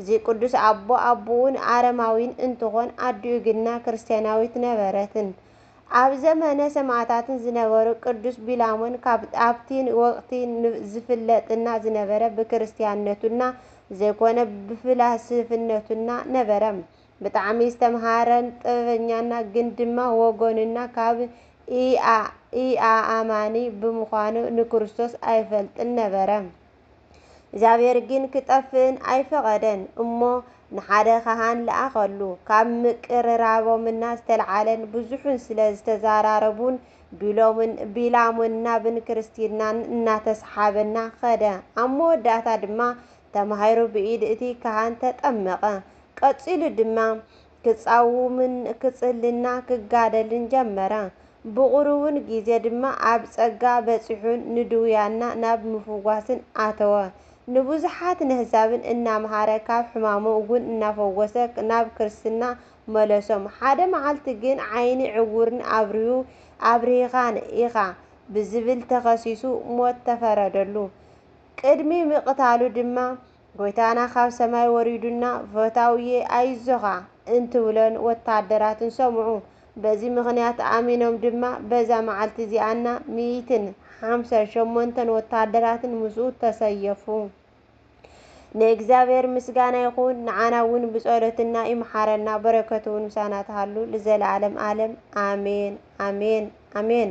እዚ ቅዱስ ኣቦ ኣቡኡ ን ኣረማዊን እንትኾን ኣዲኡ ግና ክርስቲያናዊት ነበረትን። ኣብ ዘመነ ሰማእታትን ዝነበሩ ቅዱስ ቢላሞን ካብ ኣብቲ ወቅቲ ዝፍለጥና ዝነበረ ብክርስቲያንነቱና ዘይኮነ ብፍላስፍነቱና ነበረ። ብጣዕሚ ዝተምሃረን ጥበበኛና ግን ድማ ወገኑና ካብ ኢኣኣማኒ ብምዃኑ ንክርስቶስ ኣይፈልጥን ነበረ። እግዚኣብሔር ግን ክጠፍእን ኣይፈቐደን እሞ ንሓደ ኻህን ለኣኸሉ። ካብ ምቅርራቦምና ዝተልዓለን ብዙሑን ስለ ዝተዘራረቡን ቢሎምን ቢላሙን ናብን ክርስትናን እናተሰሓበና ኸደ። ኣብ መወዳእታ ድማ ተማሂሩ ብኢድ እቲ ካህን ተጠመቐ። ቀጺሉ ድማ ክጻውምን ክጽልና ክጋደልን ጀመረ። ብቑሩውን ጊዜ ድማ ኣብ ጸጋ በጺሑን ንድውያንና ናብ ምፍዋስን ኣተወ። ንብዙሓት ነህዛብን እናመሃረ ካብ ሕማሞም'ውን እናፈወሰ ናብ ክርስትና መለሶም። ሓደ መዓልቲ ግን ዓይኒ ዕውርን ኣብርሁ ኣብርሂኻን ኢኻ ብዝብል ተኸሲሱ ሞት ተፈረደሉ። ቅድሚ ምቅታሉ ድማ። ጎይታና ካብ ሰማይ ወሪዱና ፈታውየ ኣይዞኻ እንትብሎን ወታሃደራትን ሰምዑ። በዚ ምኽንያት ኣሚኖም ድማ በዛ መዓልቲ እዚኣና ሚኢትን ሓምሳን ሸሞንተን ወታሃደራትን ምስኡ ተሰየፉ። ንእግዚኣብሔር ምስጋና ይኹን ንዓና እውን ብጸሎትና ይምሓረና በረከቱ እውን ምሳና ትሃሉ ልዘለዓለም ዓለም ኣሜን ኣሜን ኣሜን።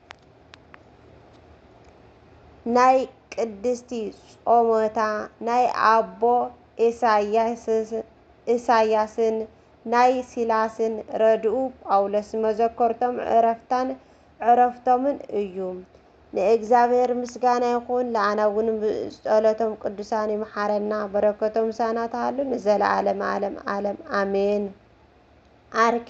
ናይ ቅድስቲ ጾሞታ ናይ ኣቦ ኢሳይያስን ናይ ሲላስን ረድኡ ጳውሎስ መዘከርቶም ዕረፍታን ዕረፍቶምን እዩ ንእግዚኣብሔር ምስጋና ይኹን ልኣናውን ብጸሎቶም ቅዱሳን ይምሓረና በረከቶም ምሳና ትሃሉ ንዘለዓለመ ዓለም ዓለም ኣሜን። ኣርኬ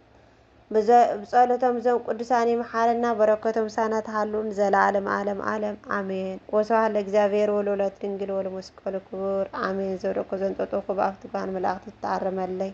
ብፀሎቶም እዞም ቅዱሳን ይምሓረና በረከቶም ምሳና ትሃሉ ንዘላለም ኣለም ኣለም ኣሜን ወስብሃት ለእግዚኣብሔር ወለወላዲቱ ድንግል ወለመስቀሉ ክቡር ኣሜን ዝወደቅኩ ዘንጠጥኩ ብኣፍቲ ጓል መላእክት ትተኣረመለይ